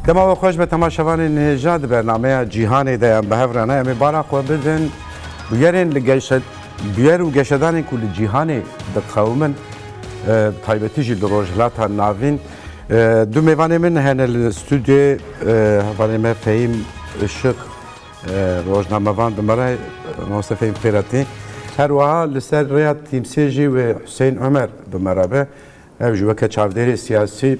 Dema we xweş be tema şevanê nêja di bernameya cîhanê de yan bi hev re ne em ê bala xwe bidin bûyerên li geşe bûyer û geşedanên ku li cîhanê diqewimin bi taybetî jî li Rojhilata Navîn du mêvanê min hene li stûdyê hevalê me Fehîm Işıq rojnamevan bi me re Mamoste Fehîm Fêretî her wiha li ser rêya tîmsê jî wê Huseyîn Omer bi me re be ev ji weke çavdêrê siyasî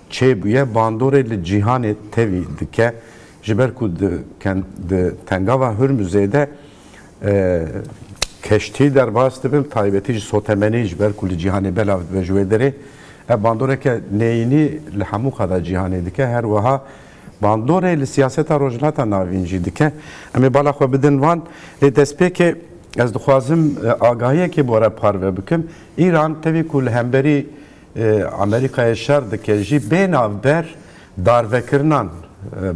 Çêbûye bandorê li cîhanê tevî dike ji ber ku di di tengava Hurmuzê de keştî derbas dibin taybetî ji sotemenî ji ber ku li cîhanê belav dibe ji wê derê ev bandoreke neyînî li hemû qada cîhanê dike her wiha bandorê li siyaseta Rojhilata Navîn jî dike. Em ê bala xwe bidin van. Lê destpêkê ez dixwazim agahiyekê bora parve bikim. Îran tevî ku li hemberî Amerîkayê şer dike jî bê navber darvekirinan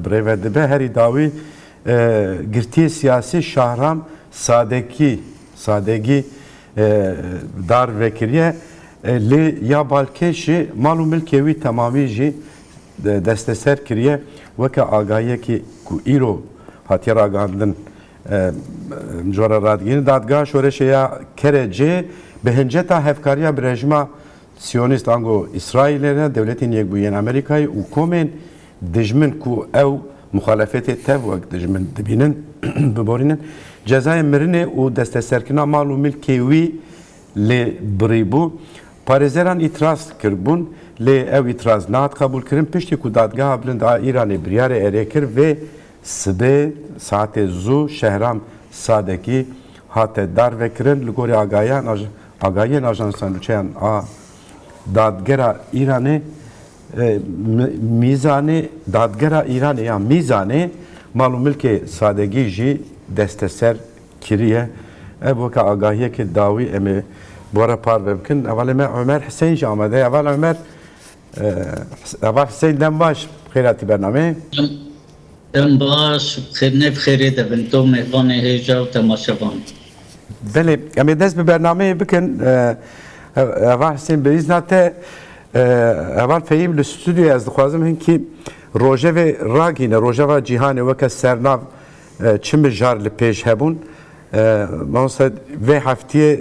birêve dibe. Herî dawî girtiyê siyasî Şahram Sadekî Sadegî dar vekiriye lê ya balkêşî mal û milkê wî temamî jî desteser kiriye weke agahiyekî ku îro hatiye ragihandin. Em ji we re radigirin dadgeha şoreşê ya kerê cê bi hinceta hevkariya bi rejima siyonîst ango Îsraîlê re Dewletên Yekbûyî yên Amerîkayê û komên dijmin ku ew muxalefetê tev wek dijmin dibînin biborînin cezayê mirinê û desteserkirina mal û milkê wî lê birîbû. Parêzeran îtiraz kiribûn lê ew îtiraz nehat qebûlkirin piştî ku Dadgeha Bilind a Îranê biryarê erê kir vê Sibê saetê zû Şehram Sadekî hate darvekirin li gorî agahiyên ajansa nûçeyan a Dadgera Îranê Mîzanê Dadgera Îranê ya Mîzanê mal û milkê Sadegî jî desteser kiriye. Ev weke agahiyekê dawî em ê bi we re parve bikin. Hevalê me Omer Hisên jî amade ye. Heval Omer Ava Hüseyin dem baş bixêr hatî bernameyê. Dem baş bixêr ne bixêrê de bin to mêvanê hêja û temaşevan. Belê em ê dest bi bernameyê bikin Ava Hüseyin bi îzna te heval Fehîm li studyoya ez dixwazim hinkî rojevê ragîne rojeva cîhanê weke sernav Çi mijar li pêş hebûn. Mamoste vê heftiyê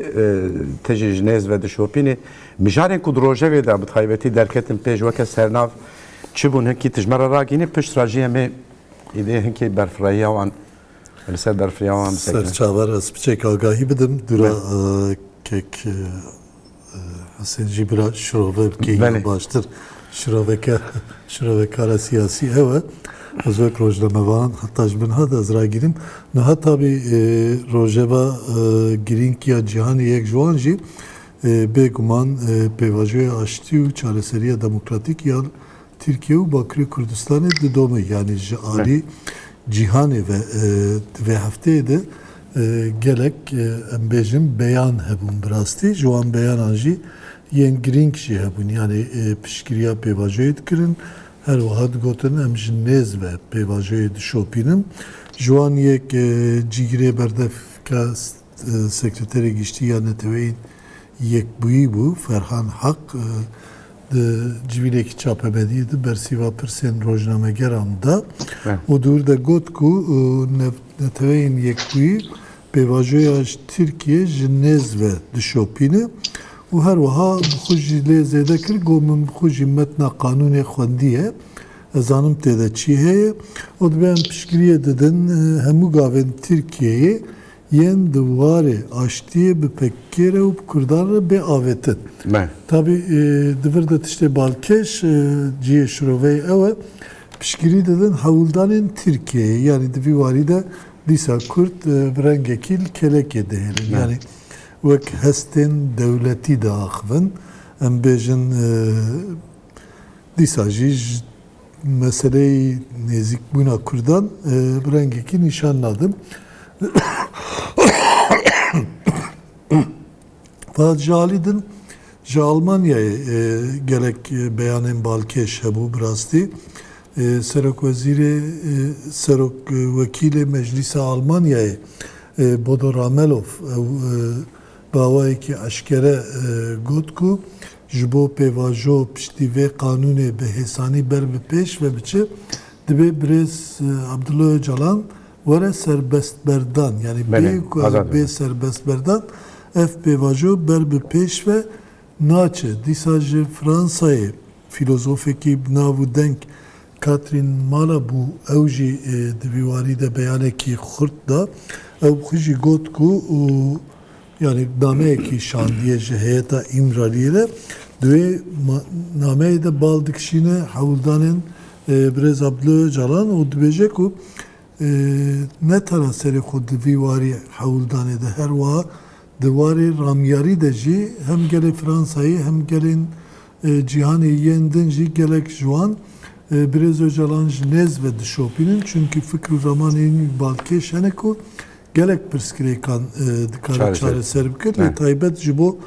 ti jî ji nêz ve dişopînî. Mijarên ku di rojevê de bi taybetî derketin pêş weke sernav çi bûn hinkî tu ji me re ragihînî pişt re jî em ê îdê hinkî berfirehîya wan li ser berfirehîya wan bisekinin. Serçavera ez piçek agahî bidim dûra kek Husên jî bira şirove bike ya baştir şirovekara siyasî ew e. Ez wek rojnamevan heta ji binha de ez ragirîm. Niha tabî rojeva girîng ya cîhanê yek ji wan jî bêguman pêvajoya aştî û çareseriya demokratîk yan Tirkiye û Bakirê Kurdistanê didome yanî ji alî cîhanê ve di vê hefteyê de gelek em bêjin beyan hebûn bi rastî ji wan beyanan jî yên girîng jî hebûn yanî piştgiriya pêvajoyê dikirin her wiha digotin em ji nêz ve pêvajoyê dişopînin ji wan yek cîgirê berdevka Sekreterê Giştî ya Neteweyên Yekbûyî bû Ferhan Hak di civînekî çapemeniyê de bersîva pirsên rojnamegeran da û di wir de got ku Neteweyên Yekbûyî pêvajoya ji Tirkiyê ji nêz ve dişopîne û her wiha bi xwe jî lê zêde kir got min bi xwe jî metna qanûnê xwendiye ez zanim tê de çî heye û divê em piştgiriyê didin hemû gavên Tirkiyeyê yên di warê aştiyê bi PKK re û bi Kurdan re bê avêtin. Tabî di vir de tiştê balkêş cihê şiroveyê ew e, piştgirî didin hewldanên Tirkiyeyê. Yanî di vî warî de dîsa Kurd bi rengekî li kelekê dihêlin. Yanî wek hestên dewletî diaxivin. Em bêjin dîsa jî ji. Meseleyê nêzîkbûna Kurdan bi rengekî nîşan nadin. Fahat ji alî din ji Almanyayê gelek beyanên balkêş hebû bi rastî. Serokwezîrê Serokwekîlê Meclîsa Almanyayê Bodo Ramelow ew bi awayekî eşkere got ku Ji bo pêvajo piştî vê qanûnê bi hêsanî ber bi pêş ve biçe, dibê birêz Abdullah Ocalan were serbestberdan, yanî bê ku ew bê serbestberdan, ev pêvajo ber bi pêş ve naçe. Dîsa ji Fransayê fîlozofekî bi nav û deng Catherine Malabou ew jî di vî warî de beyanekî xurt da. Ew xwe jî got ku. Yanî nameyekî şandiyê ji heyeta Îmraliyê re. Di wê nameyê de bal dikişîne hewldanên Birêz Abdullah Ocalan û dibêje ku ne tena serê xwe di vî warî hewldanê de her wiha di warê ramyarî de jî hem gelê Fransayê hem gelên cîhanê yên din jî gelek ji wan Birêz Ocalan ji nêz ve dişopînin. Çimkî fikr û ramanên wî balkêş hene ku Gelek pirsgirêkan dikare çareser bikin lê taybet ji bo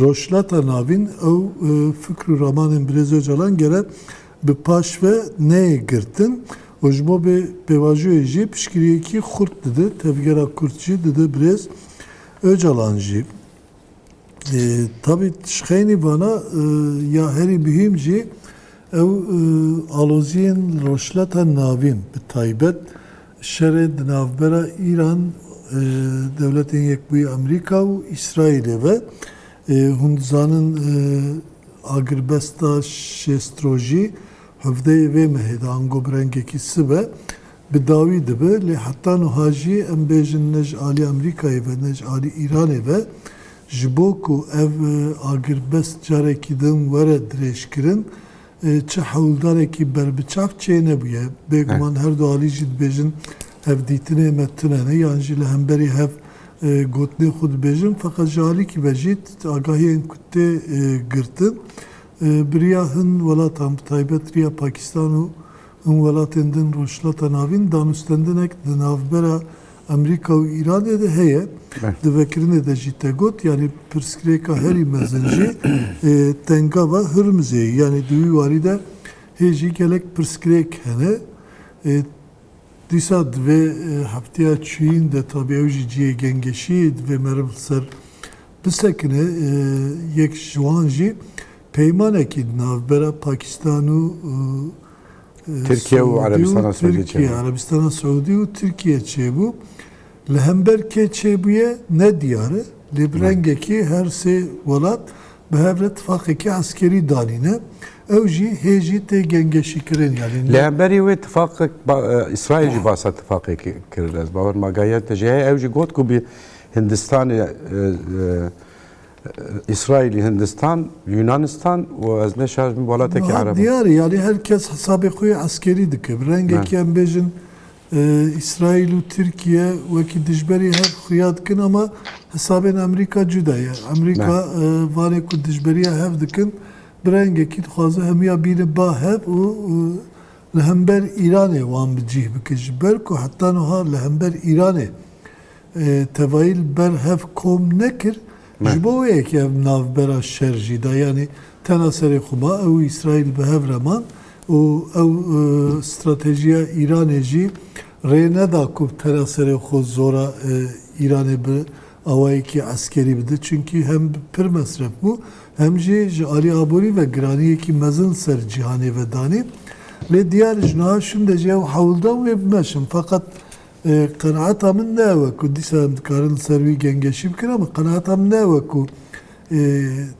Rojhilata Navîn ew fikr û ramanên Birêz Ocalan gere bi paş ve neyê girtin û ji bo vê pêvajoyê jî piştgiriyekî xurt dide tevgera kurt jî dide Birêz Ocalan jî. Tabî tişxeynî vana ya herî muhîm jî ew aloziyên li Rojhilata Navîn bi taybet şerê di navbera Îran, Dewletên Yekbûyî Amerîka û Îsraîlê ve. Hûn dizanin agirbesta şêst rojî hevdeyê vê mehê de ango bi rengekî sibe Bi dawî dibe lê heta nuha jî em bêjin ne ji alî Amerîkayê ve ne ji alî Îranê ve ji bo ku ev agirbest carekî din were dirêjkirin çi hewldarekî berbiçav çênebûye. Bêguman her du alî jî dibêjin ev dîtinê me tune ne yan jî li hemberî hev gotinên xwe dibêjin feqet ji alîkî ve jî agahiyên ku tê girtin bi riya hin welatan bi taybet riya Pakîstan û Hin welatên din Rojhilata Navîn danûstendinek di navbera Amerîka û Îranê de heye. Di vekirinê de jî te got, yanî pirsgirêka herî mezin jî tengava Hurmizê ye. Yanî di wî warî de hê jî gelek pirsgirêk hene. Dîsa di vê hefteya çiyîn de tabi ew jî cihê gengeşiyê di vê meriv li ser bisekine. Yek ji wan jî Peymanekî di navbera Pakistan û Tirkiye û Erebistana Siûdî çêbû. Tirkiye, Erebistana Siûdî û Tirkiye çêbû. Li hember kê çêbûye ne diyar e. Lê bi rengekî her sê welat bi hev re tifaqekî eskerî danîne. Ew jî hê jî tê gengeşîkirin yanî. Li hemberî wê tifaqek Îsraîl jî basa tifaqê kir. Ez bawer ma gehiyentine jê heye. Ew jî got ku bi Hindistanê Îsraîlî, Hindistan, Yunanistan û ez neşarij bim welatekî Niha Ereb in. diyar e yanî her kes hesabê xwe yê eskerî dike. Bi rengekî Me. em bêjin Îsraîl û Tirkîye wekî dijberî hev xuya dikin ama hesabên Amerîka cuda ye. Me. Amerîka vanê ku dijberîya hev dikin bi rengekî dixwaze hemûya bîne ba hev û li hember Îranê wan bi cîh bike. Ji ber ku heta niha li hember Îranê Tevayî li ber hev kom nekir, ji bo wê yekê ev navbera şer jî da. Yanî tena serê xwe ma, ew û Îsraîl bi hev re man û ew stratejiya Îranê jî rê neda ku tena serê xwe zora Îranê bi awayekî eskerî bide. Çimkî hem pir mesref bû, hem jî ji alî aborî ve giraniyekî mezin ser cîhanê ve danî. Lê diyar e ji niha şinde jî ew hewldan wê bimeşin. Feqet Qenaeta min ne we ku dîsa em dikarin li ser wî gengeşî bikin ama qenaeta min ne we ku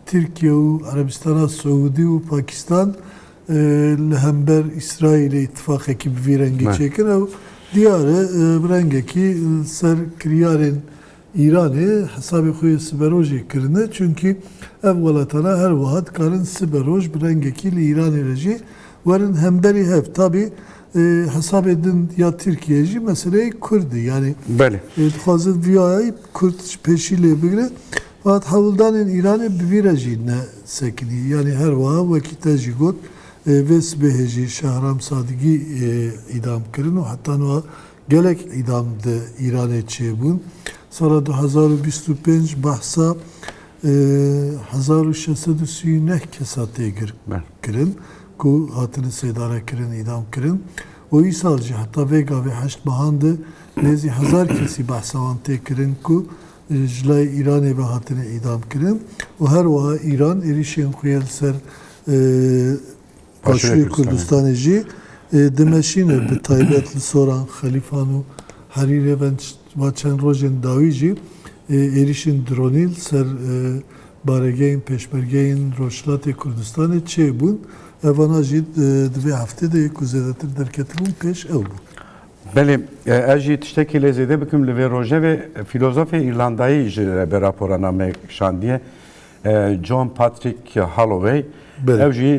Tirkiye û Erebistana Siûdî û Pakistan li hember Îsraîlê îtîfaqekî bi vî rengî çêkin. Ew diyar e, bi rengekî li ser kiryarên Îranê hesabê xwe yê siberojê kirine çunkî ev welatana her wiha dikarin siberoj bi rengekî li Îranê re jî werin hemberî hev. Tabî hesabê din ya Tirkiyeyê jî meseleyê kurd e yanî dixwazin viyayayî kurd ji pêşî lê bigire fakat hewldanên Îranê bi vî re jî ne sekinî yanî her wiha wekî te jî got vê sibehê jî Şehram Sadigî îdam kirin û heta niha Gelek îdam di Îranê çêbûn. Sala du hezar û bîst û pênc behsa hezar û şeş sed û sî û neh kesa tê girkirin ku hatine sêdarekirin, îdamkirin û îsal jî heta vê gavê heşt mehan de nêzî hezar kesî behsa wan tê kirin ku ji layê Îranê ve hatine îdamkirin û her wiha Îran êrîşên xwe yên li ser Başûrê Kurdistanê jî dimeşîne bi taybet li soran Xelîfan û Herîrê ve va çend rojên dawî jî êrîşên dronî li ser baregehên pêşmergeyên Rojhilatê Kurdistanê çêbûn. Evana jî di vê heftê de yê ku zêdetir derketibûn pêş ew bûn. Belê ez jî tiştekî lê zêde bikim li vê rojevê fîlozofê Îrlandayî ji ber rapora name kişandiye. John Patrick Holloway ew jî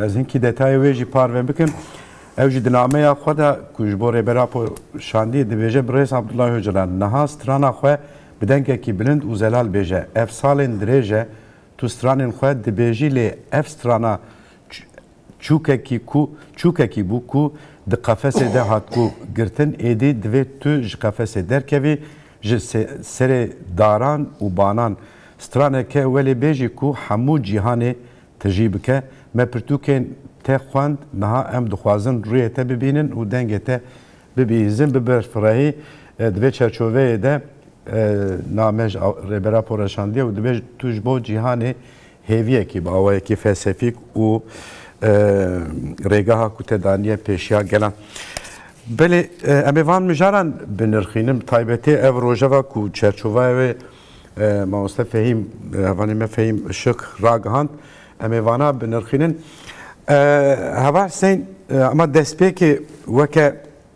ez hinkî detayê wê jî parve bikim. Ew jî di nameya xwe de ku ji bo Rêber Apo şandî dibêje Birêz Abdullah Ocalan niha strana xwe bi dengekî bilind û zelal bêje ev salên dirêj e tu stranên xwe dibêjî lê ev strana Çûkekî ku çûkekî bû ku di qefesê de hatibû girtin êdî divê tu ji qefesê derkevî ji serê daran û banan straneke welê bêjî ku hemû cîhanê tijî bike. Me pirtûkên te xwend niha em dixwazin rûyê te bibînin û dengê te bibihîzin biberfirehî divê çerçoveyê de name ji Rêbera Poreşandiye û divê tu ji bo cîhanê Hêviyekî bi awayekî felsefîk û rêgeha ku te daniye pêşiya gelan. Belê em ê van mijaran binirxînin bi taybetî ev rojeva ku çerçovaya wê mamoste Fehîm hevalê me Fehîm Işık ragihand em ê vana binirxînin. Heval Hüseyin ema destpêkê weke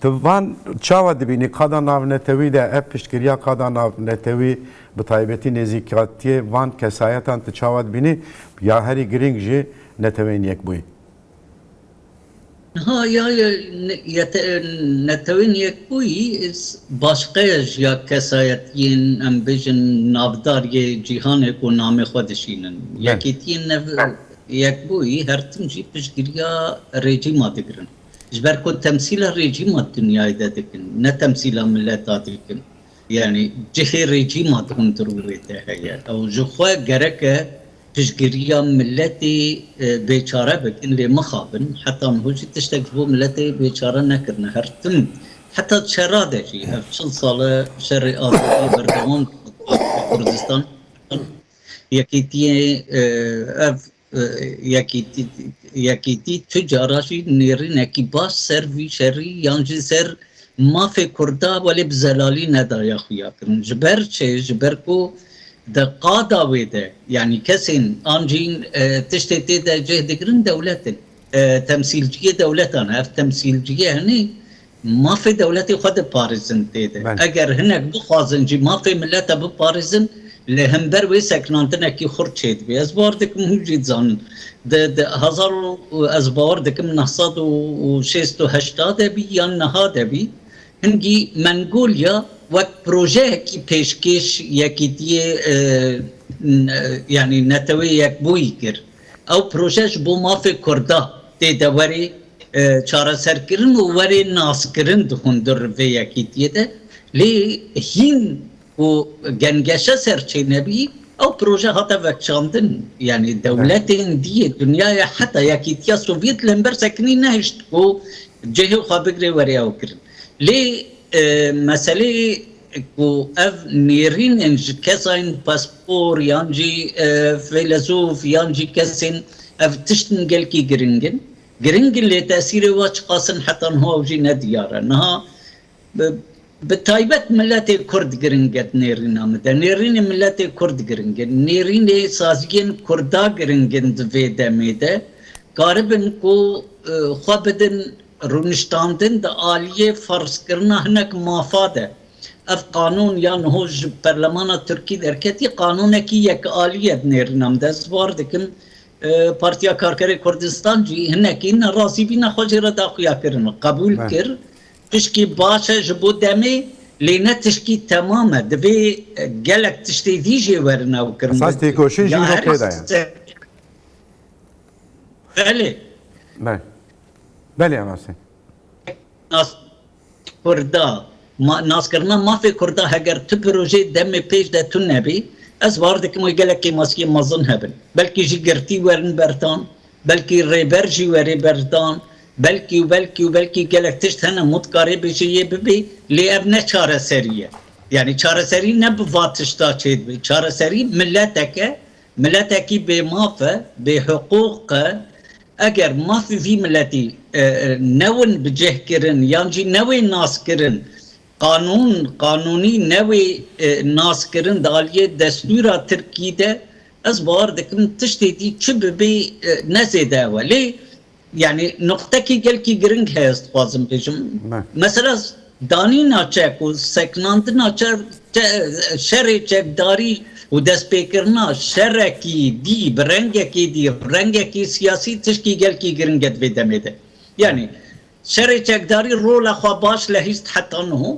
Tu van çawa dibînî? Qada navnetewî de ev piştgiriya qada navnetewî bi taybetî nêzîkatiyê van kesayetan tu çawa dibînî? Ya herî girîng jî Neteweyên Yekbûyî. Niha ya Neteweyên Yekbûyî başqeya ji ya kesayetiyên em bêjin navdar yê cîhanê ku namê xwe dişînin. Yekîtiyên Yekbûyî her tim jî piştgiriya rejîma digirin. Ji ber ku temsîla rejîma dinyayê de dikin, ne temsîla mileta dikin. Yanî cihê rejîma di hundirû wê de heye. Ew ji xwe gerek e piştgiriya miletê bêçare bikin, lê mixabin heta niho jî tiştek ji bo miletê bêçare nekirine. Her tim heta şera de jî, ev çil sal e şerê azadiyê berdewam dike di Kurdistan. Yekîtiyê ev Yekîtî tu cara jî nêrînekî baş ser vî şerî yan jî ser mafê Kurda welê bi zelalî nedaya xuya kirin. Ji ber çi? Ji ber ku di qada wê de yanî kesên an jî tiştê tê de cih digirin dewlet in. Temsîlciyê dewletan e. Ev temsîlciyê hinî Mafê dewletê xwe diparêzin tê de. Eger hinek bixwazin jî mafê milete biparêzin, li hember wê sekinandinekî xurt çêdibê. Ez bawer dikim hûn jî dizanin. Di hezar û ez bawer dikim neh sed û şêst û heşta de bî yan niha de bî, hingî Mengolya wek projeyekî pêşkêş yekîtiyê yanî Neteweyê Yekbûyî kir. Ew proje ji bo mafê Kurda tê de werê çareserkirin û werê naskirin dixundir li vê yekîtiyê de. Lê hîn ku gengeşe serçêne bî, ew proje hate vekişandin. Yanî dewletên dî yê dinyayê heta Yekîtiya Sovyet li hember sekinî nehişt ku cihê xwe bigire werê ew kirin. Lê meselê ku ev nêrînên ji kesayên paspor yan jî feylesûf yan jî kesên ev tiştin gelkî giring in. Giring in lê tesîrê wan çiqas in heta niha ew jî ne diyar e. Niha bi taybet miletê kurd giring e di nêrîna min de. Nêrînê miletê kurd giring in. Nêrînê saziyên kurda giring in di vê demê de. Karibin ku xwe bidin. Rûniştandin di aliyê ferzkirina hinek mafa de. Ev qanûn ya niho ji perlemana Tirkî derketî qanûnekî yekalî ye di nêrîna min de. Ez war dikim Partiya Karkerê Kurdistan jî hinekî nerazîbîna xwe jê re da xuyakirin. Qebûl kir tişkî baş e ji bo demê lê ne tişkî temam e. Divê gelek tiştê dî jê werin ew kirin bigrin. Esas têkoşîn jî niho pê de ye. Belê. Belê rast e. Nas Kurda, naskirina mafê Kurda heger tu pirojeyê demê pêş de tun nebî, ez bar dikim wê gelekê maskîyê mezin hebin. Belkî jî girtî werin berdan, belkî rêber jî werê berdan, belkî û belkî û belkî gelek tişt hene min dikarê bêje yê bibê lê ev ne çareserî ye. Yanî çareserî ne bi va tişta çêdibê. Çareserî mileteke, miletekî bêmaf e, bêhiqûq e, Eger mafê vî miletî newin bi cih kirin yan jî newê nas kirin, qanûn, qanûnî newê nas kirin di aliyê destûra tirkî de, ez bawer dikim tiştê dî çi bibê ne zêde ew e. Lê yanî nuqtekî gelkî giring heye ez dixwazim bêjim. Mesela. Danîna çek û sekinandina şerê çekdarî û destpêkirina şerekî dî bi rengekî dî, rengekî siyasî tiştî gelkî giring e di vê demê de. Yanî şerê çekdarî rola xwe baş lehîst heta niho,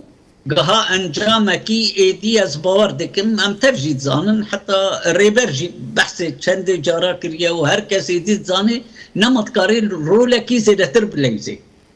giha encamekî êdî ez bawer dikim em tev jî dizanin heta Rêber jî behsê çendê cara kiriye û her kes êdî dizanê nema dikarê rolekî zêdetir bilewzê.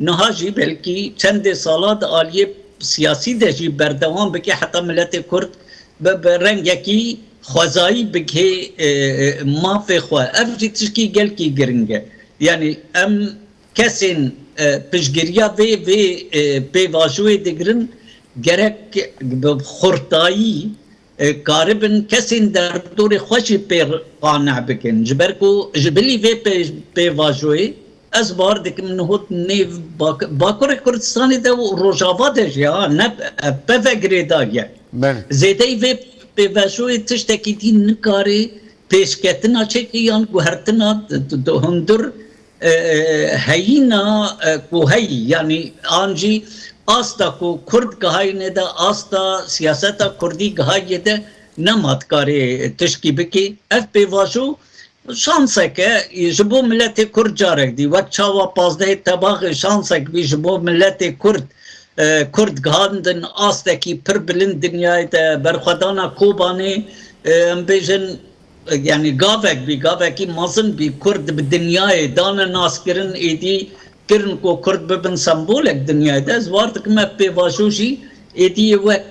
Niha jî belkî çendê salan di aliyê siyasî de jî berdewam bike heta miletê Kurd bi bi rengekî xwezayî bigihê mafê xwe. Ev jî tişkî gelkî giring e. Yanî em kesên piştgiriya vê vê pêvajoyê digirin gerek bi xurtayî Dikaribin kesên derdorê xwe jî pê qane bikin. Ji ber ku ji bilî vê pêvajoyê ez bar dikim niho nêv Bakurê Kurdistanê de û Rojava de jî ha ne peve girêdayî ye. Zêdeyî vê pêvajoyê tiştekî dî nikare pêşketina çekê yan guhertina hundir Heyîna ku heyî yanî an jî asta ku kurd gihayîne de asta siyaseta kurdî gihayîye de nema dikarê tişkî bikê. Ev pêvajo şansek e ji bo miletê kurd carek dî wek çawa pazdehê tebaxê şansek bî ji bo miletê kurd. Kurd gihandin astekî pir bilind dinyayê de berxwedana Kobanê em bêjin Yanî gavek bî, gavekî mezin bî Kurd bi dinyayê dane naskirin, êdî kirin ku Kurd bibin sembolek dinyayê de. Ez war dikim ev pêvajo jî êdî yê wek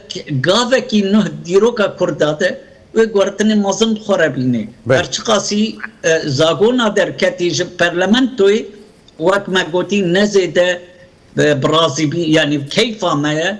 gavekî nuh dîroka Kurda de wê guhertinê mezin bi xwe re bînê. Her çiqasî Zagona derketî ji perlementoyê wek me gotî ne zêde bi razî bî yanî keyfa me ye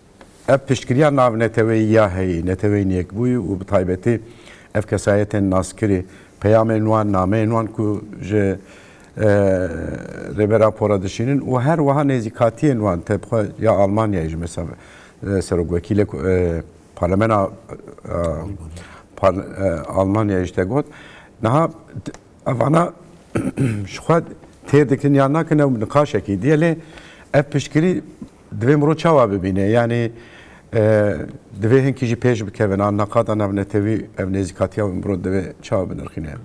Ev piştgiriya navneteweyî ya heyî neteweyîn yekbûyî û bi taybetî ev kesayetên naskirî peyamên wan, nameyên wan ku ji Rêber Apo re dişînin û her wiha nêzîkatiyên wan te bi xwe ya Almanyayê ji mesa serokwekîlê parlemena Almanyayê ji te got niha evana ji xwe têr dikin yan nakin ew niqaşekî diye lê ev piştgirî Divê mirov çawa bibîne? Yanî divê hinkî jî pêş bikevin an neqada navnetewî ev nêzîkatiya wê mirov divê çawa binirxîne?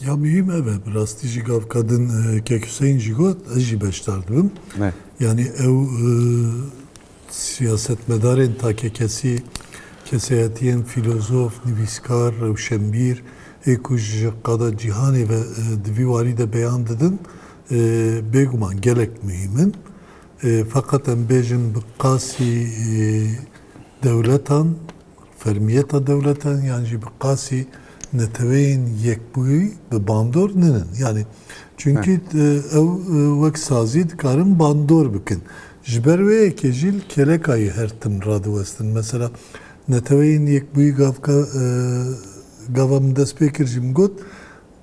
Ya muhîm ev e. Bi rastî jî gavka din Kek Huseyîn jî got, ez jî beşdar dibim. Yanî ew siyasetmedarên takekesî, kesayetiyên fîlozof, nivîskar, rewşenbîr ê ku ji qada cîhanê ve di vî warî de beyan didin, bêguman gelek muhîm in. Feqet em bêjin bi qasî dewletan, fermiyeta dewletan yan jî bi qasî neteweyên yekbûyî bi bandor ninin. Yanî çunkî ew wek sazî dikarin bandor bikin. Ji ber wê yekê jî li kêlekayî her tim radiwestin. Mesela neteweyên yekbûyî gavka gava min dest pê kir jî min got,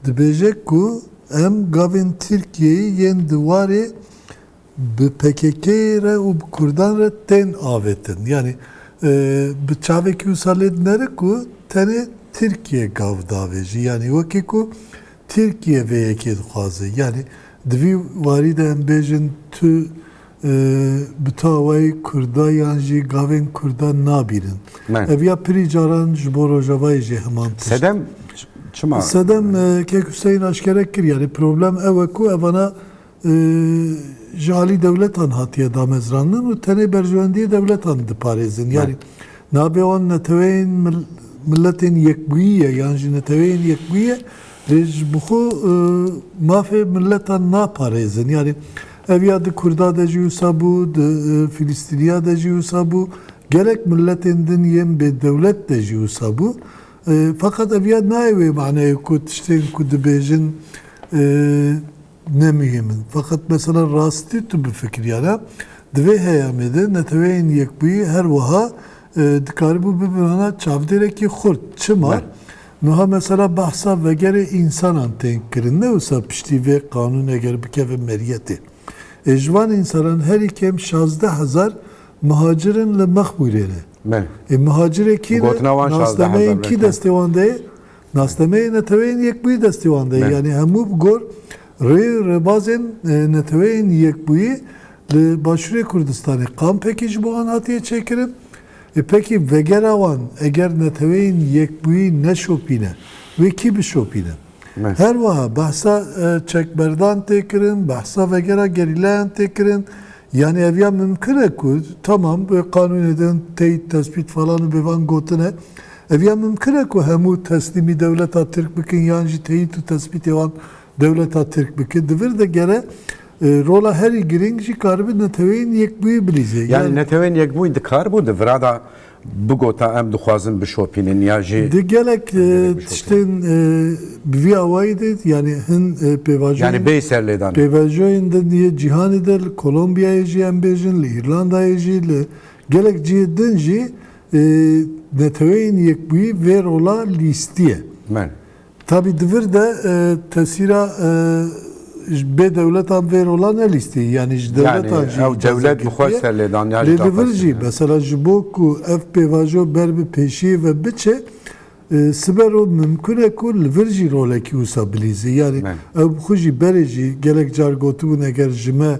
Dibêje ku em gavên Tirkiyeyê yên di warê bi pkk-yê re û bi kurdan re tên avêtin. Yanî bi çavekî wisa lê dinere ku tenê Tirkiye gav davêjî. Yanî wekî ku Tirkiye vê yekê dixwaze. Yanî di vî warî de em bêjin tu Bi tawayî kurda yan jî gavên kurda nabînin. Ev ya pirî caran ji bo rojavayê jî heman tişt. Sedem çima? Sedem kek Huseyîn aşkere kir yanî problem ew e ku evana ji alî dewletan hatiye damezrandin û tenê berjewendiyê dewletan diparêzin. Yanî nabê wan neteweyên miletên yekbûyî ye yan jî neteweyên yekbûyî ye lê ji bi xwe mafê miletan naparêzin. Yanî Ev ya di Kurda de jî wisa bû, di Fîlîstîniya de jî wisa bû, gelek miletên din yên bêdewlet de jî wisa bû. Feqet ev ya nayê wê maneyê ku tiştên ku dibêjin ne muhîm in. Feqet mesela rastî tu bifikiryane di vê heyamê de Neteweyên Yekbûyî her wiha dikaribû bibin çavdêrekî xurt. Çima? Nuha mesela behsa vegerê însanan tên kirin, ne wisa piştî vê qanûnê eger bikeve meriyetê. Ê ji wan însanan herî kêm şazdeh hezar mihacir in li Mexmûrê re. Ê mihacirê kî ne? Nasnameyên kî destê wan de ye? Nasnameyê Neteweyên Yekbûyî destê wan de ye. Yanî hemû bi gor rê û rêbazên Neteweyên Yekbûyî li Başûrê Kurdistanê. Kampekî ji bo wan hatiye çêkirin. Ê pekî vegera wan eger neteweyên yekbûyî neşopîne, wê kî bişopîne? Her wiha behsa çekberdan tê kirin, behsa vegera gerîlayan tê kirin. Yanî ev ya mimkin e ku tamam bi qanûnê de in teyî tespît falan û bêvan gotin e. Ev ya mimkin e ku hemû teslîmî dewleta Tirk bikin yan jî teyît û tespîtê wan Dewleta Tirk bi ke di vir de gere rola herî girîng jî karibe Neteweyên Yekbûyî bilîze. Yanî Neteweyên Yekbûyî dikaribû di vira de bigota em dixwazin bişopînin ya jî. Di gelek tiştên bi vî awayî de yanî hin pêvajoyên. Yanî bêyî serlêdanê. Pêvajoyên din yê cîhanê de li Kolombiyayê jî em bêjin, li Îrlandayê jî, li gelek cihê din jî Neteweyên Yekbûyî vê rola lîstiye. Tabî di vir de tesîra ji bê dewletan vê rola ne lîstî yanî ji dewletan jî icazet girtiye. Ew dewlet bi xwe serlêdaniya jî da xwestiye. Lê di vir jî mesela ji bo ku ev pêvajo ber bi pêşiyê ve biçe siber o mimkun e ku li vir jî rolekî wisa bilîze. Yanî ew bi xwe jî berê jî gelek car gotibûn eger ji me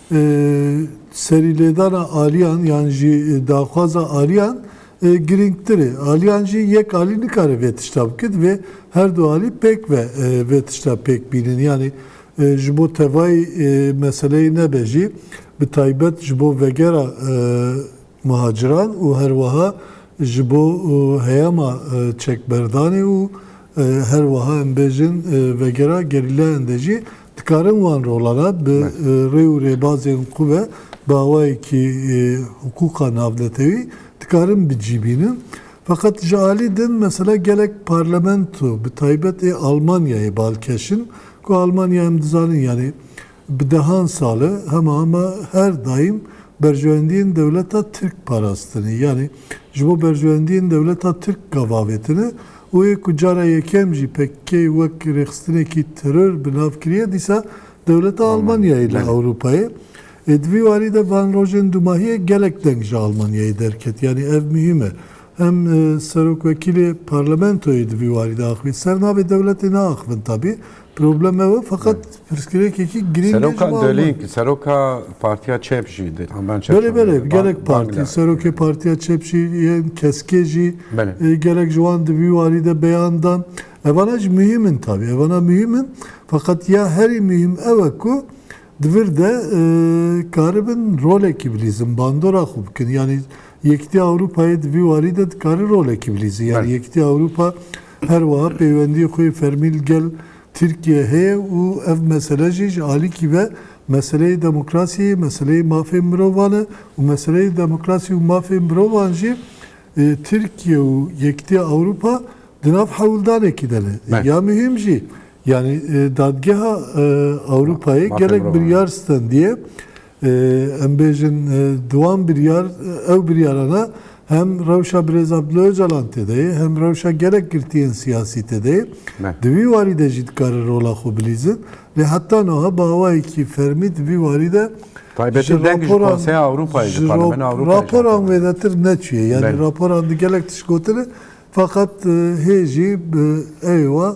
Serîlêdana aliyan yan jî daxwaza aliyan girîngtir e. Aliyan jî yek alî nikare vê tişta bike, divê her du alî pêk ve vê tişta pêk bînin. Yanî ji bo tevayî meseleyê nebe jî bi taybet ji bo vegera muhaciran û her wiha ji bo heyama çekberdanê û her wiha em bêjin vegera gerîlayan de jî dikarin wan rolana bi rê û rêbazên xwe ve bi awayekî hiqûqa navnetewî dikarin bicîbînin. Feqet ji alî din mesela gelek parlamento bi taybet ê Almanyayê balkeş in ku Almanya em dizanin yanî Bi dehan sal e hema hema her daîm berjewendiyên dewleta Tirk parastinê. Yanî ji bo berjewendiyên dewleta Tirk gav avêtine û ê ku cara yekem jî pkk wek rêxistinekî teror bi nav kiriye dîsa dewleta Almanyayê li Ewropayê ê. Di vî warî de van rojên dumahiyê gelek deng ji Almanyayê derket. Yanî ev muhîm e. Hem serokwekîlê parlamentoyê di vî warî de axivî. Ser navê dewletê naaxivin tabî. Problem ew e feqet pirsgirêkekî girîng e ji Seroka bo ew Dölî, bin. seroka partiya çep jî dê. Tam ben çep Belê belê şandî. gelek Bang- partî, Bangla. serokê partiya çep jî yên keskê jî Belê. e, gelek ji wan di vî warî de beyan dan. Evana jî muhîm in tabî. Evana muhîm in. Feqet ya herî muhîm ew e ku di vir de e, karibin rolekî bilîzin, bandora xwe bikin. Yanî Yekîtiya Ewropayê di vî warî de dikare rolekî bilîzin. Yanî Belê. Yekîtiya Ewropa Her wiha peywendiyê xwe yê fermî li gel Tirkiyeyê heye û ev mesele jî ji alîkî ve meseleyê demokrasiyê ye, meseleyê mafên mirovan e û meseleyê demokrasî û mafên mirovan jî Tirkiye û Yekîtiya Ewropa di nav hewldanekî de ne. Ya muhîm jî yanî Dadgeha Ewropayê gelek biryar stendiye. Em bêjin di wan biryar ew biryara de hem rewşa Birêz Abdullah Ocalan têde ye hem rewşa gelek girtiyên siyasî têde ye. Di vî warî de jî dikarin rola xwe bilîzin. Lê heta niha bi awayekî fermî di vî warî de Taybetî deng ji Konseya Ewropayê ji Parlemena Ewropayê jî. Raporan wêdetir neçûye. Yanî raporan di gelek tişt gotine. Feqet hê jî bi ew ê wa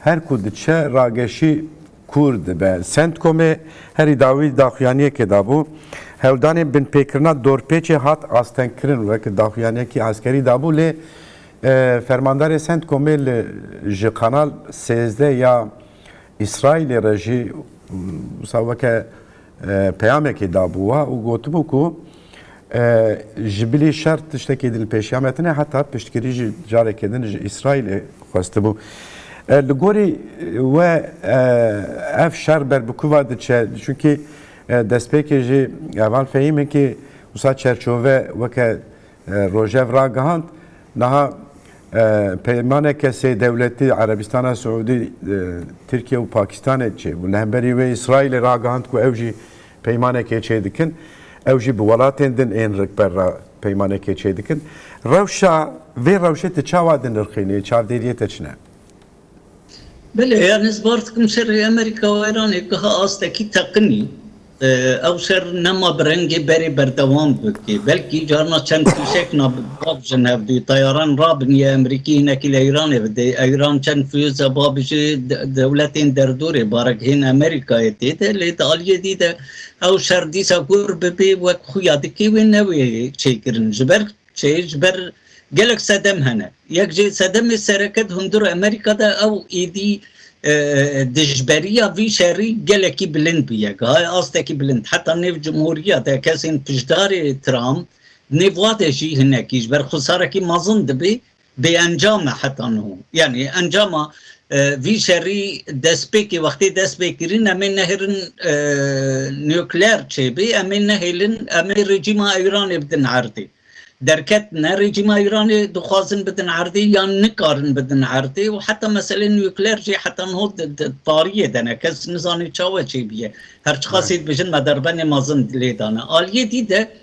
Her ku diçe rageşî kûr dibe. Centcomê herî dawî daxuyaniyekê dabû. Hewldanên binpêkirina dorpêçê hat astengkirin wek daxuyaniyekî eskerî dabû lê fermandarê Centcomê li ji Kanal sêzdeh ya Îsraîlê re jî wisa weke Peyamekê dabû we û gotibû ku ji bilî şer tiştekî din pêşiya me tune heta piştgirî jî carekê din ji Îsraîlê xwestibû. Li gorî we ev şer ber bi ku ve diçe? Çunkî destpêkê jî heval fehîm in ku wisa çerçove weke Rojhev ragihand, Niha peymaneke sê dewletî Erebîstana Siûdî, Tirkiye û Pakîstanê çêbû. Li hemberî wê Îsraîlê ragihand ku ew jî peymanekê çêdikin. Ew jî bi welatên din ên rikber re peymanekê çêdikin. Rewşa vê rewşê tu çawa dinirxînî? Çavdêriyê te çi ne? Belê yan ez bar dikim şerê Amerîka û Îranê giha astekî teqinî. Ew şer nema bi rengê berê berdewam bike. Belkî carna çend fîşek na babijin hevdî. Tayaran rabiniye Amerîkî hinekî li Îranê bide. Îran çend fiyûza babijî dewletên derdorê barek hên Amerîkayê tê de. Lê di aliyê dî de ew şer dîsa kûr bibê wek xuya dikê wê newê çêkirin. Ji ber Çêyî ji ber gelek sedem hene. Yek jî sedemê sereke di hundir Amerîka de ew êdî dijberiya vî şerî gelekî bilind bûye. Gihaye astekî bilind. Heta nêv cumhuriya de kesên piştdarê Trump nêv wade jî hinekî ji ber xwesarekî mezin dibî Bêencam e heta niho. Yanî encama vî şerî destpêkê wextê dest pê kirîn em ê nehêlin nukleer çêbî, em ê nehêlin em ê rejîma Îranê bidin erdê. Derket ne rejîma Îranê dixwazin bidin erdê yan nikarin bidin erdê û heta meselê nukleer jî heta niho tariyê de ne. Kes nizanê çawa çêbûye. Her çiqasî dibêjin me derbenê mezin lê dane. Aliyê dî de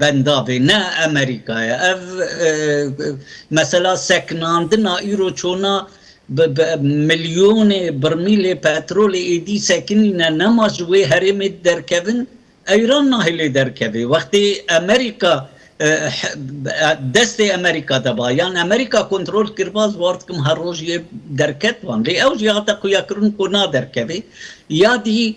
Benda bê ne Amerîka ye. Ev mesela sekinandina îro çona bi milyonê birmîlê petrolê êdî sekinîne nema ji wê herêmê derkevin Eyran nahê lê derkevê. Wextê Amerîka destê Amerîka de ba yan Amerîka kontrol kiriba ez war dikim her roj yê derket wan lê ew jî hate xuyakirin ku naderkevê ya dî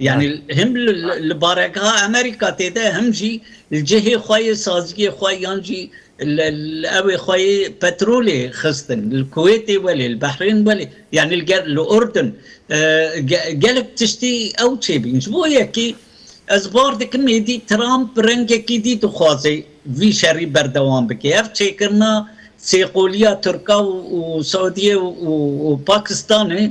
Yanî him li baregeha Amerîka tê de him jî li cihê xwe yê saziyê xwe yan jî li ewê xwe yê petrolê xistin. Li Kuwêtê welê, li Behrên welê yanî ger li Urdun gelek tiştî ew çêbîn. Ji bo yekê ez bar dikim êdî Trump bi rengekî dî dixwaze vî şerî berdewam bike. Ev çêkirina sêqoliya Tirka û Saudiyê û Pakistanê,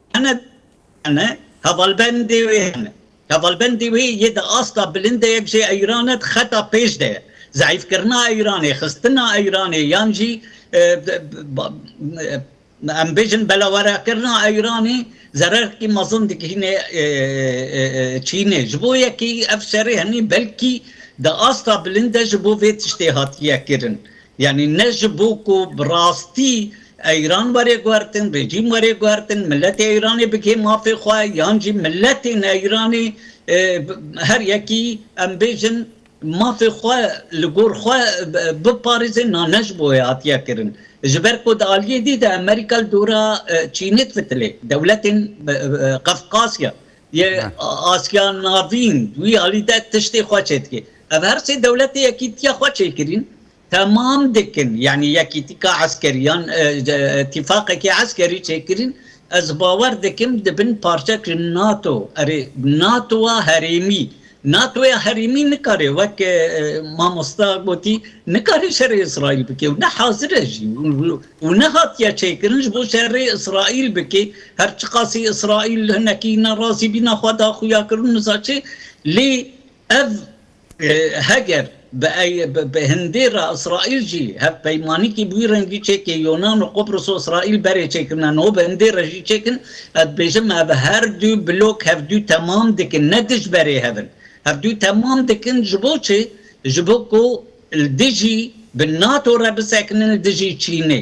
Hene hene hevalbendê wê hene. Hevalbendê wê yê di asta bilindeyek jê Eyranê di xeta pêş de ye. Zeîfkirina Eyranê, xistina Eyranê yan jî em bêjin belawerakirina Eyranê zererkî mezin digihîne Çînê. Ji bo yekî ev şerê henî belkî di asta bilind de ji bo vê tiştê hatiye kirin. Yanî ne ji bo ku bi rastî Eyran were guhertin, rejîm were guhertin, miletê Eyranê bike mafê xwe yan jî miletên Eyranê her yekî em bêjin mafê xwe li gor xwe biparêzin na ne ji bo wê hatiye kirin. Ji ber ku di aliyê dî de Amerîka li dora Çînê difitilê, dewletên Qefqasya Yê Asya Navîn wî alî de tiştê xwe çêdikê. Ev her sê dewletê Yekîtiya xwe çêkirîn temam dikin. Yanî yekîtika eskerî yan îtîfaqekî eskerî çêkirîn. Ez bawer dikim dibin parçek ji NATO. Erê, NATO-a herêmî. NATOya herêmî nikare wek mamosta gotî nikare şerê Îsraîl bike û ne hazir e jî û ne hatiye çêkirin ji bo şerê Îsraîl bike. Her çiqasî Îsraîl hinekî ne razî bîna xwe daxuyakirin nizaçe lê ev heger Bi bi hindê re Îsraîl jî hevpeymanîkî bi wî rengî çêkê Yonan û Qubris û Îsraîl berê çêkirine niho bi hindê re jî çêk in. Ez dibêjim ev her du blok hevdu temam dikin ne dij berê hev in. Hevdu temam dikin ji bo çi? Ji bo ku li dijî bi NATO re bisekinin li dijî Çînê.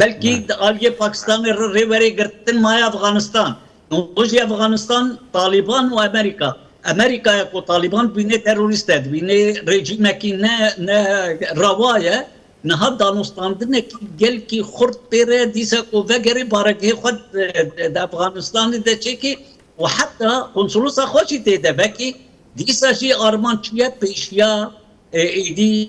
Belkî di aliyê Pakistanê re rê werê girtin maye Efxanistan. Îro jî Efxanistan Talîban û Amerîka. Amerîka ye ku Talîban dibînê terorîst e, dibînê rejîmekî ne ne rewa ye, niha danûstandinekî gelkî xurt pê re ye dîsa ku vegerê baregehê xwe di Efxanistanê de çêkê û heta konsolosa xwe jî tê de vekê. Dîsa jî armanc çi ye? Pêşiya êdî.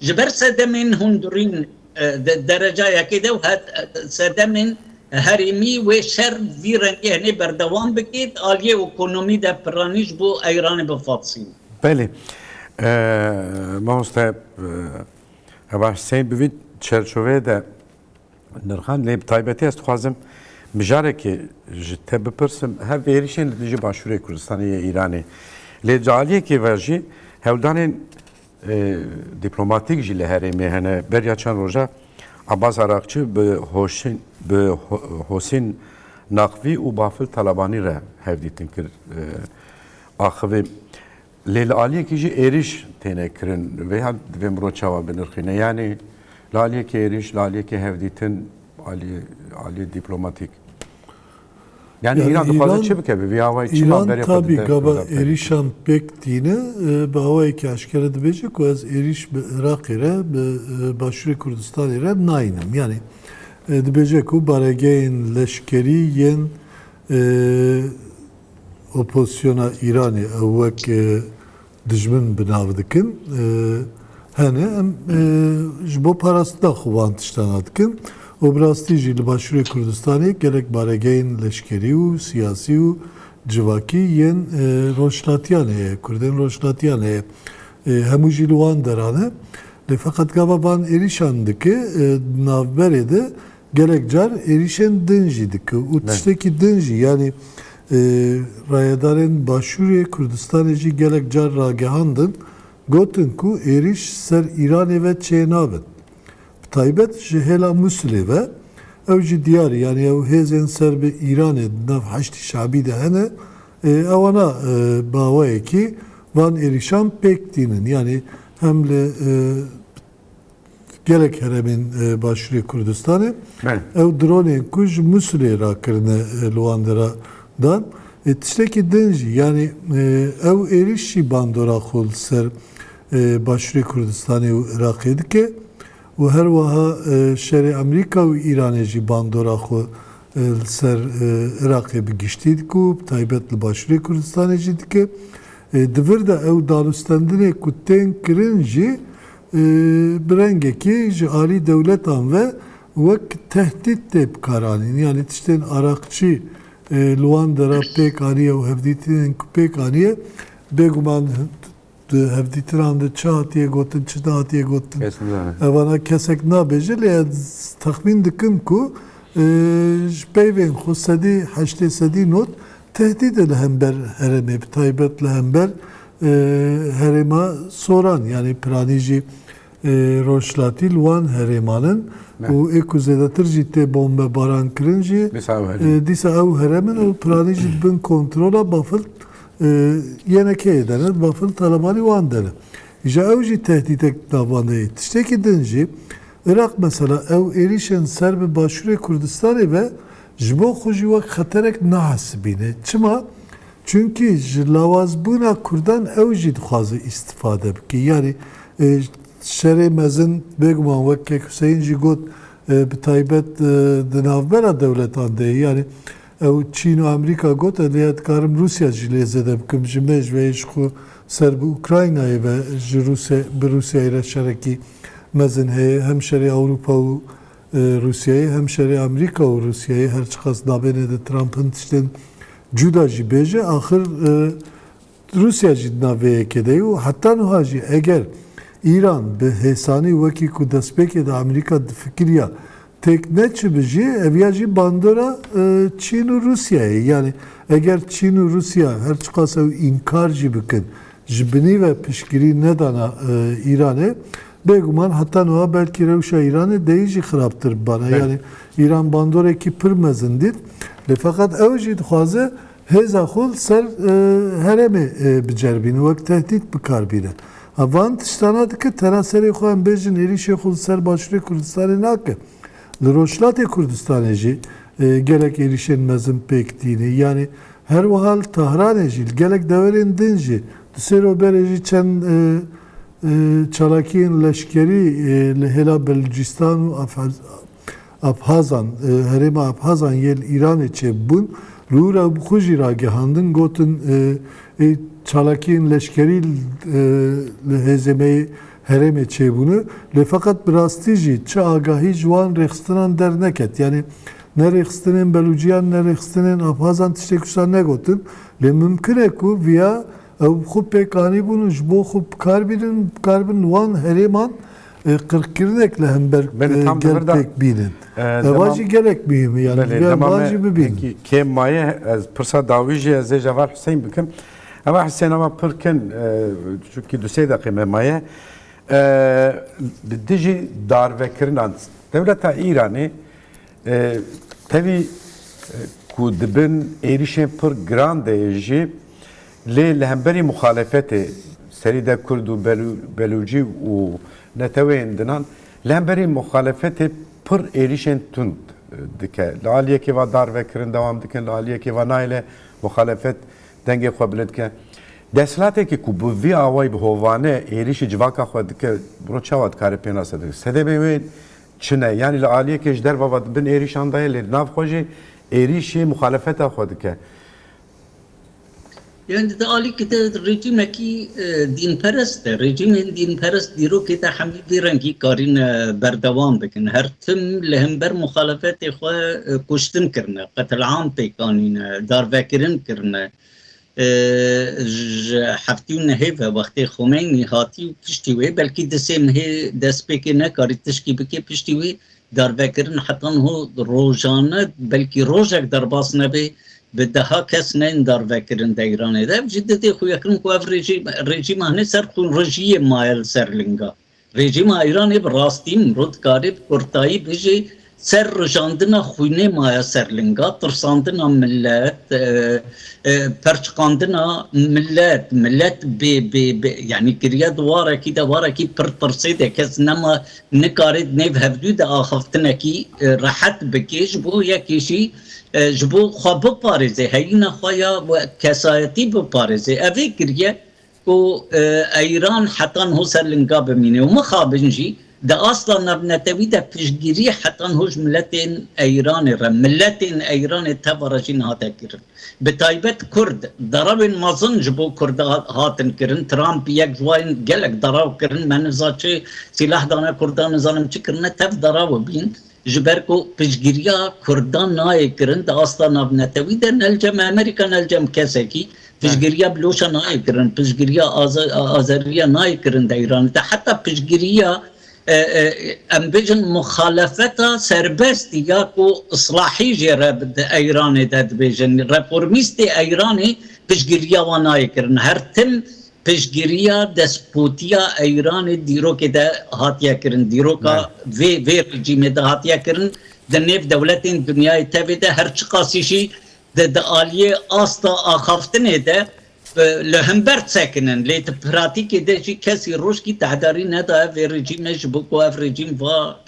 Ji ber sedemên hundurîn di derecayekê de û hat sedemên herêmî wê şer vî rengê hinê berdewam bike, di aliyê okonomî de piranî ji bo Eyranê bifasîn. Belê. Mamoste Heba Hussein bi vî çerçoveyê de nirxand lê bi taybetî ez dixwazim mijarekê ji te bipirsim hev êrişên li dijî başûrê Kurdistanê yê Îranê lê di aliyekê ve jî hewldanên Dîplomatîk jî li herêmê hene. Beriya çend roja Abbas Araqçi bi Hosîn Naqvî û Bafil Talabanî re hevdîtin kir axivî. Lê li aliyekî jî êrîş têne kirin. Vê hal divê mirov çawa binirxîne? Yanî li aliyekî êrîş, li aliyekî hevdîtin aliyê dîplomatîk. Yani yani İran dixwaze çi bike bi vî awayê çima İran berê xwe tabî dide gava Kurda pêk êrîşan pêk tîne e, bi awayekî eşkere dibêje ku ez êrîş bi Iraqê re bi e, Başûrê Kurdistanê re nayînim. Yani e, dibêje ku baregehên leşkerî yên e, opozisyona Îranê ew wek e, Dijmin bi nav dikin. Hene em ji bo parastina xwe van tiştana dikin û bi rastî jî li Başûrê Kurdistanê gelek baregehên leşkerî û siyasî û civakî yên rojhilatiyan heye, Kurdên rojhilatiyan heye. Hemû jî li wan deran e. Lê feqet gava van êrîşan dike di navberê de Gelek car êrîşên din jî dike û tiştekî din jî yanî rayedarên Başûrê Kurdistanê jî gelek car ragihandin, gotin ku êrîş ser Îranê ve çênabin. Bi taybet ji hêla Mûsilê ve ew jî diyar e yanî ew hêzên ser bi Îranê di nav Heşdî Şe'bî de hene ewana bi awayekî van êrîşan pêk tînin yanî hem li gelek heremên Başûrê Kurdistanê ew dronên ku ji Mûsilê re kirine li wan de re dan. Tiştekî din jî yanî ew êrîş jî bandora xwe li ser Başûrê Kurdistanê û Iraqê dike û her wiha şerê Amerîka û Îranê jî bandora xwe li ser Iraqê bi giştî dike û bi taybet li Başûrê Kurdistanê jî dike. Di vir de ew danûstendinê ku tên kirin jî bi rengekê ji alî dewletan ve wek tehdît tê bikaranîn. Yanî tiştên araqçî li wan dera pêk aniye û hevdîtinên ku pêk aniye bêguman di hevdîtinan de çi hatiye gotin, çi nehatiye gotin evana kesek nabêje lê ez texmîn dikim ku ji peyvên xwe sedî heştê sedî not Tehdîdê li hember herêmê bi taybet li hember herêma Soran yanî piranî jî rojhilatî li wan herêman in û ê ku zêdetir jî tê bombebaran kirin jî dîsa ew herem in û piranî jî di bin kontrola bafil yene keyê de ne bafil Talebanî wan de ne. Îja ew jî tehdîdek navandeyî. Tiştekî din jî Iraq mesela ew êrîşên ser bi Başûrê Kurdistanê ve ji bo xwe jî wek xeterek nahesibîne. Çima? Çimkî ji lawazbûna Kurdan ew jî dixwaze îstifade bike. Yanî Şerê Mezin bêguman wek Kek Huseyîn jî got bi taybet di navbera dewletan de ye. Yanî Ew Çîn û Amerîka got, Edê ya dikarim Rûsya jî lê zêde bikim. Ji me ji veyî ji xwe ser bi Ukraynayê ve ji Rûsya bi Rûsyayê re şerekî mezin heye. Hem şerê Ewropa û Rûsyayê hem şerê Amerîka û Rûsyayê her çiqas dabêne di Trump'in tiştên cuda jî bêje axir Rûsya jî di nav vê yekê de ye û heta nuha jî eger Îran bi hêsanî wekî ku destpêkê de Amerîka difikiriya têk neçibi jî ev ya jî bandora Çîn û Rûsyayê ye. Yanî eger Çîn û Rûsya her çiqas ew înkar jî bikin ji binî ve piştgirî nedana Îranê bêguman heta nuha belkî rewşa Îranê deyî jî xirabtir bibana. Yanî Îran bandorekî pir mezin dît lê feqet ew jî dixwaze Hêza xwe li ser herêmê biceribîne, wek tehdît bikar bîne. Ev van tiştana dike, tera serê xwe em bêjin êrîşê xwe li ser Başûrê Kurdistanê nake. Li Rojhilatê Kurdistanê jî gelek êrîşên mezin pêk tîne. Yanî her wiha li Tahranê jî, li gelek deverên din jî, du sê roj berê jî çend çalakiyên leşkerî li hêla Belûcîstan û Abhazan, herêma Abhazan yê li Îranê çêbûn, li û re xwe jî ragihandin, gotin ê çalakiyên leşkerî li hêzê me yê herêmê çêbûne, lê feqet bi rastî jî çi agahî ji wan rêxistinan derneket. Yanî ne rêxistinên Belûciyan ne rêxistinên Abhazan tiştê ku wisa negotin, lê mimkin e ku viya ew bi xwe pêk anîbûn û ji bo xwe bikarbînin, bikaribin li wan herêman Qirkirinek li hember gel pêk bînin. Ev jî gelek muhîm e yani divê ev bar jî bibînin. Kêm maye ez pirsa dawî jî ez ê ji heval Huseyîn bikim. Heval Huseyîn ava pir kin çunkî du sê deqê me maye. Li dijî darvekirinan dewleta Îranê tevî ku dibin êrîşên pir giran de jî Lê li hemberî muxalefetê serî de kurd û belûcî û neteweyên dinan li hemberî muxalefetê pir êrîşên tund dike. Li aliyekê ve darvekirin dewam dikin, li aliyekê ve nayêle muxalefet dengê xwe bilind bike. Desthilateke ku bi vî awayî bi hovane êrîşî civaka xwe dike rû çawa dikare pêna sedem bike? Sedemê wê çi ne? Yanî li aliyekê ji derve ve di bin êrîşan de ye lê di nav xwe jî êrîşî muxalefeta xwe dike. Yani di alîkê de rejîmekî dînperest e. Rejîmên dînperest dîrokê de hemî vî rengî karîne berdewam bikin. Her tim li hember muxalefetê xwe kuştin kirine, qetil'am pêk anîne, darvekirin kirine. Ji heftî û nehê ve wextê Xomeynî hatî û piştî wê belkî di sê mehê destpêkê nekarî tişkî bike piştî wê Darvekirin heta niho rojan ne, belkî rojek derbas nebe, bi deha kes neyên darvekirin de Îranê de. Ev jî di dê xuya kirin ku ev rejîm, rejîma hinê ser xûnrijiyê maye li ser linga. Rejîma Îranê bi rastî mro dikarê bi kurtayî bijî ser rijandina xwînê maye ser linga, tirsandina milet, perçiqandina milet, milet bê bê bê yanî kiriye di warekî de, warekî pir tirsê de, kes nema Nikarî di nêv hevdû de axaftinekî rehet bikê, ji bo yekê jî ji bo xwe biparêzê, heyîna xwe ya kesayetî biparêzê. Ev vê kiriye ku Eyran heta niho ser linga bimîne û mixabin jî di asta navnetewî de piştgirî heta niho ji miletên Eyranê re, miletên Eyranê tevare jî nehate kirin. Bi taybet kurd, derewên mezin ji bo kurd hatin kirin, Trump yek ji wan gelek derew kirin, me niza çi sîleh dane kurdan nizanim çi kirine, tev derew bîn, ji ber ku piştgiriya kurdan nayê kirin di asta navnetewî de, ne li cem Amerîka ne li cem kesekî, piştgiriya Biloşa nayê kirin, piştgiriya Azeriya nayê kirin di Îranê de, heta piştgiriya Em bêjin muxalefeta serbest ya ku islahî jê re bi di Eyranê de dibêjin. Reformîstê Eyranê piştgiriya wan nayê kirin. Her tim piştgiriya despotiya Eyranê dîrokê de hatiye kirin. Dîroka vê vê rejîmê de hatiye kirin. Di nêv dewletên dinyayê tevê de her çiqasî jî di di aliyê asta axaftinê de Li himber sekinin lê di pratîkê de jî kesî rojkî tehdarî nedaye vê rejîmê ji bo ku ev rejîm va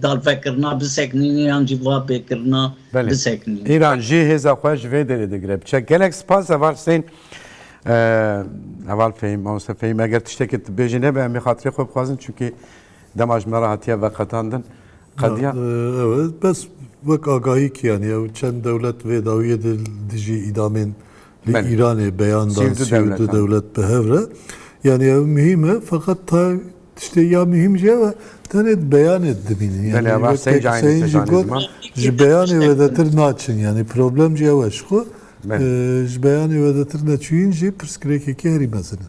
dalvekirina bisekinîne yan jî va bêkirina bisekinîne. Belê, Îran jî hêza xwe ji vê derê digire. Bi çek gelek spas Heval Husên. Heval Fehîm, Mamoste Fehîm eger tiştekê tu bêjî nebe em ê xatirê xwe bixwazin çunkî dema ji me re hatiye veqetandin qediya. Ew e bes wek agahî kî yanî ew çend dewlet vê dawiyê de dijî îdamên. Li Îranê beyan dan sî û du dewlet bi hev re. Yanî ew muhîm e feqet ta tiştê ya muhîm jî ew e tenê di beyanê de dimînin. Yanî wek Seyîn jî got ji beyanê wedetir naçin. Yanî problem jî ew e ji xwe ji beyanê wedetir neçûyîn jî pirsgirêkekî herî mezin e.